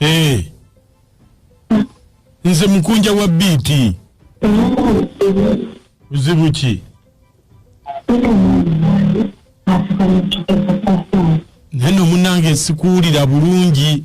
Eh. nze mukunja wa biiti buzibu ki naye nomunange sikuwulira bulungi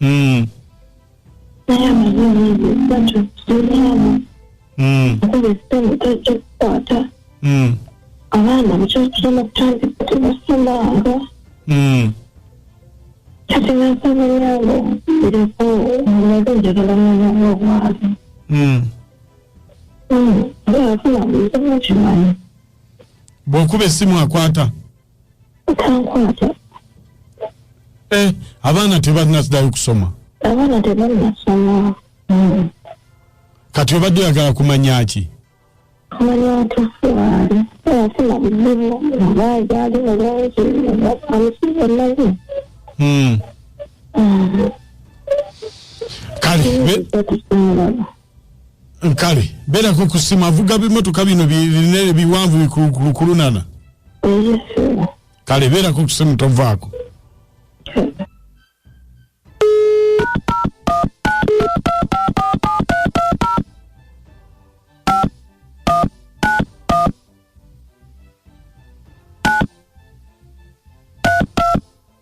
mm. mm. abaana mukyakusoma kutandika tebasomanga mm. kati nansaba yange ereko omulaga njagala mwana wobwazi mm. mm. bwafuna bweza mukimanyi bwokuba esimu akwata Eh, abaana tebalina sidayo kusoma abaana tebalina soma mm. kati obadde oyagala kumanya ki kumanya tufuwaali afuna bizibu abaagaali mulungi amusiiba naye hmm. mm. kale nkale beerako ku simu avuga bimotoka bino binene biwanvu bikulukulunana kale beerako ku simu tovaako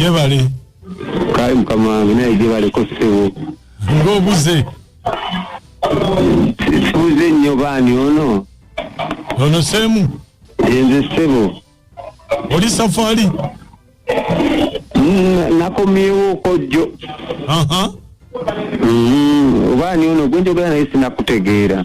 Yebale. Kale mukama wange naye gyebaleko ssebo. Ng'obuze. Tubuze nnyo baani ono. Ono Semu. Yenze ssebo. Oli safari. Mm, nakomyewo kojjo. Aha. Mm, obaani ono gwenjogera naye sinakutegeera.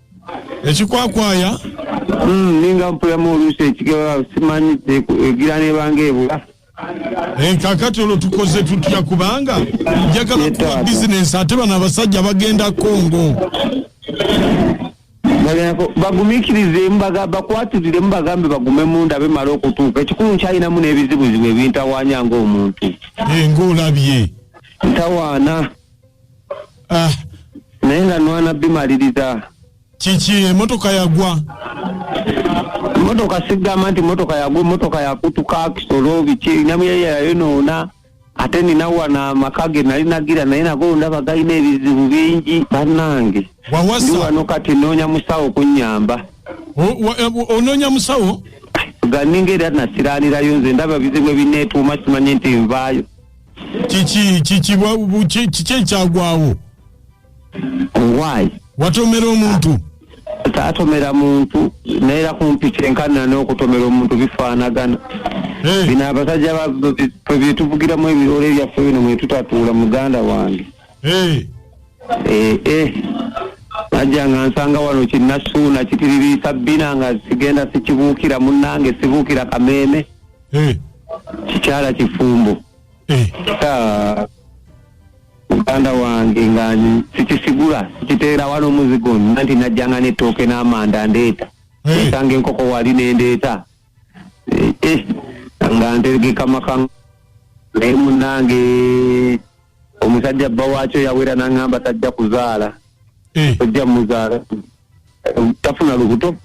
ekikwakwaya Mm, ninga mpulamu oluusi ekigaba simanyi teku- egira nebanga ebula Eh, kakati olwo tukoze tutya kubanga njagala kuwa bizinensi ate bano abasajja bagenda kongo Bagenako- bagumikirizemu baga- bakwatiriremu bagambe bagume munda bemala okutuuka ekikulu nkyalinamu n'ebizibuzibu ebintawanya ng'omuntu Eh, ng'olabye ntawaana Ah, naye nga nwana bimaliriza kiki emotoka yagwa motoka sigamba nti motoka yagwa motoka yakutuka kisolo biki namuyaya yayonoona ate nina wana amaka ge nali nagira naye nago ndaba galina ebizibu bingi bannange ndi wawasa wano kati noonya musawo kunyamba O- wa- eh, onoonya musawo ganinga era nasiraanirayo nze ndaba bizibu ebineetuuma simanyi nti nvaayo kiki kiki bwa- bu- ki- kiki ekyagwawo why watomera omuntu taatomera muntu naera kumpi kyenkanira n'okutomera omuntu bifaanagana Eh, bino abasajja ba- be- be- byetuvugiramu ebiroole byaffe bino mwetutatuula muganda wange eh, Eh, eh. najja nga nsanga wano kinasuuna kitiririisa bbina nga sigenda sikibuukira munnange sibuukira kameeme Eh. kikyala kifumbo eh. ah, muganda wange nga sikisigula sikiteera wano omuzigo nna nti najjanga netooke n'amanda ndeeta eh. esanga enkoko wali nendeeta nga ntegeka maka naye munange omusajja bba waakyo yawera nangamba tajja kuzaala eh. ojja muzaala tafuna lubuto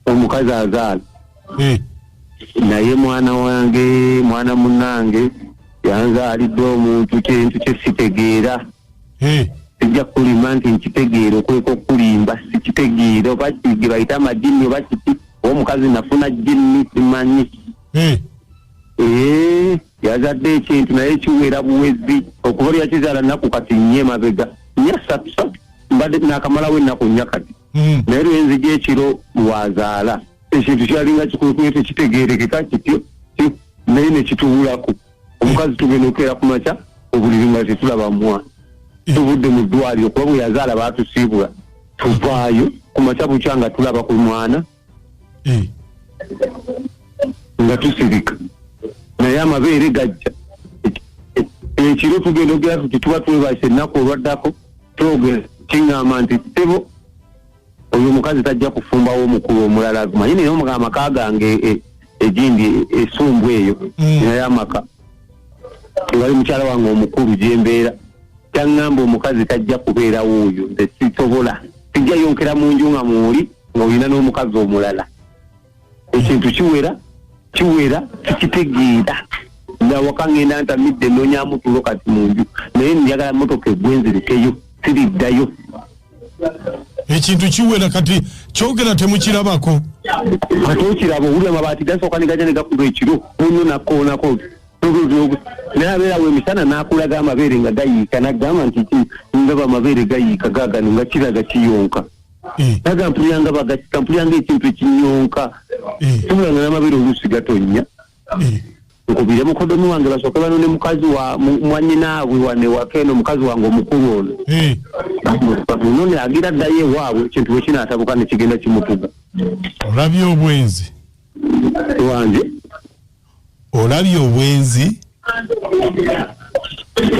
omukazi azaala eh. naye mwana wange mwana munange yanzaalidde omuntu kintu kyesitegeera eh. sijja kulimba nti nkitegeera okweka okulimba sikitegeera oba ge bayita amajinni oba kiti omukazi nafuna jinni simanyi Eeh yazadde ekintu naye kiwera buwezi okuva lyakizaala naku kati nye mabega nye satusatu mbadde nakamalawo ennaku nya kati hmm. naye lwenzija ekiro lwazaala ekintu kyalinga kikulukuye tekitegerekeka kityo naye nekitubulaku omukazi tugenda okukeera ku makya obuliri nga tetulaba mwana hmm. tuvudde mu ddwaliro kuba bwe yazaala batusiibula tuvaayo ku makya bukya nga tulaba ku mwana Eh. nga tusirika naye amabeere gajja ekiro tugenda ogera tuti tuba twebasa ennaku olwaddako twogera kiŋŋamba nti ssebo oyo omukazi tajja kufumbawo omukulu omulala manyi naye omuga amaka gange e, egindi esumbu eyo mm. naye amaka ewali mukyala wange omukulu gyembeera kyaŋŋamba omukazi tajja kubeerawo oyo nze sisobola sijja yonkera mu nju nga muuli olina n'omukazi omulala ekintu kiwera kiwera tikitegeera nawaka ngenda ntamidde nonyamu tulo kati munju naye njagala motoka egwenzirikeyo siriddayo ekintu kiwera kati kyogera temukirabako ate okiraba owuli amabaati gasooka negaja negakuba ekiro muno nakoonako naye abeerawo emisana nakulaga amabeere nga gayiika nagamba nti ndaba amabeere gayiika gagano nga kiraga kiyonka aga mpuliranga bagakika mpuliranga ekintu ekinyonka tumulanga n'amabere oluusi gatonnya nkubire mukodomi wange basooke banone mukazi wa mwanyinaabwe wanewaka eno mukazi wange omukulu ono eh. none agira ddayo ewaabwe ekintu bwe kinaatabuka ne kigenda kimutuga olabye obwenzi wange olabye obwenzi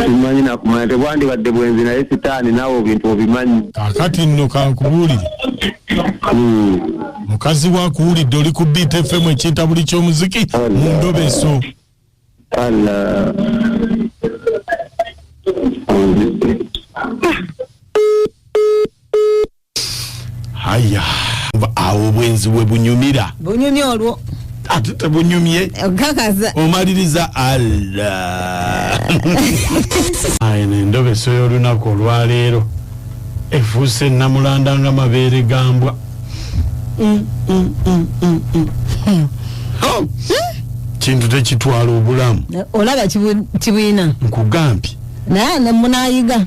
simanyi nakumanya tebwandibadde bwenzi naye sitaani naawe obintu obimanyi kakati nno kankubuulire hmm. mukazi wakuwulidde oli ku biita efemu ekinta buli ky'omuziki mu ndobeso haya awo obwenzi we bunyumira bunyumye olwo ate tebunyumye okakaza omaliriza allah aye nendobeso y'olunaku olwaleero efuuse namulanda nga mabeere gambwa mm, mm, mm, mm, mm. Hmm. Oh. Hmm? kintu tekitwala obulamu olaba kibwina nkugambye naye munayiga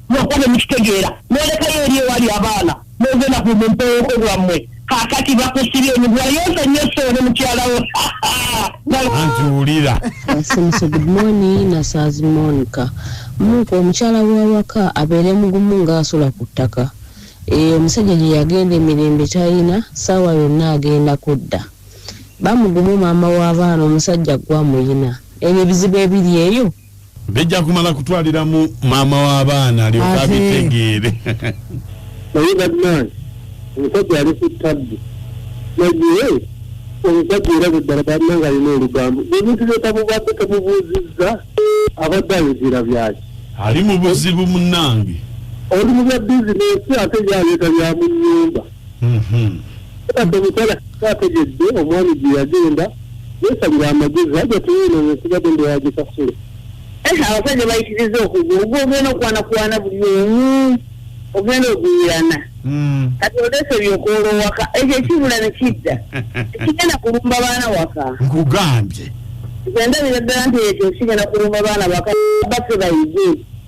mwoka ne mukitegeera nolekayo eri ewali abaana nogenda ku mumpeoko bwammwe kakati bakusibye nigwayonsa nyo soone mukyalawo njuulira asimuse good morning nasaazi monica muka omukyala wawaka abeere mugumu ngaasula ku ttaka eyo omusajja gye yagenda emirembe talina saawa yonna agenda kudda bamugumu maama w'abaana omusajja gwamuyina ebyo ebizibu ebiri eyo bijja kumala kutwaliramu maama w'abaana alyoka abitegeere naye badman omusajja ali ku tabbi naye omusajja era buddala balina nga alina olugambo ebintu byetamubadde tamubuuzizza abadde ayogera byaki ali mu buzibu munange oli mu bya bizinesi ate byaleeta bya mu nyumba omukyala ategedde omwami gye yagenda yesalira amagezi aja tuyiina nokubadde ndowaaje kasule abasajja bayitiriza okuga ogu ogenda okwanakwana buli omu ogenda oguyirana hmm. kati olese byokoola owaka ekyo ekibula nekidda kigenda kulumba baana waka nkugambye endabira ddala nti ekyo kigenda kulumba baana waka baffe bayige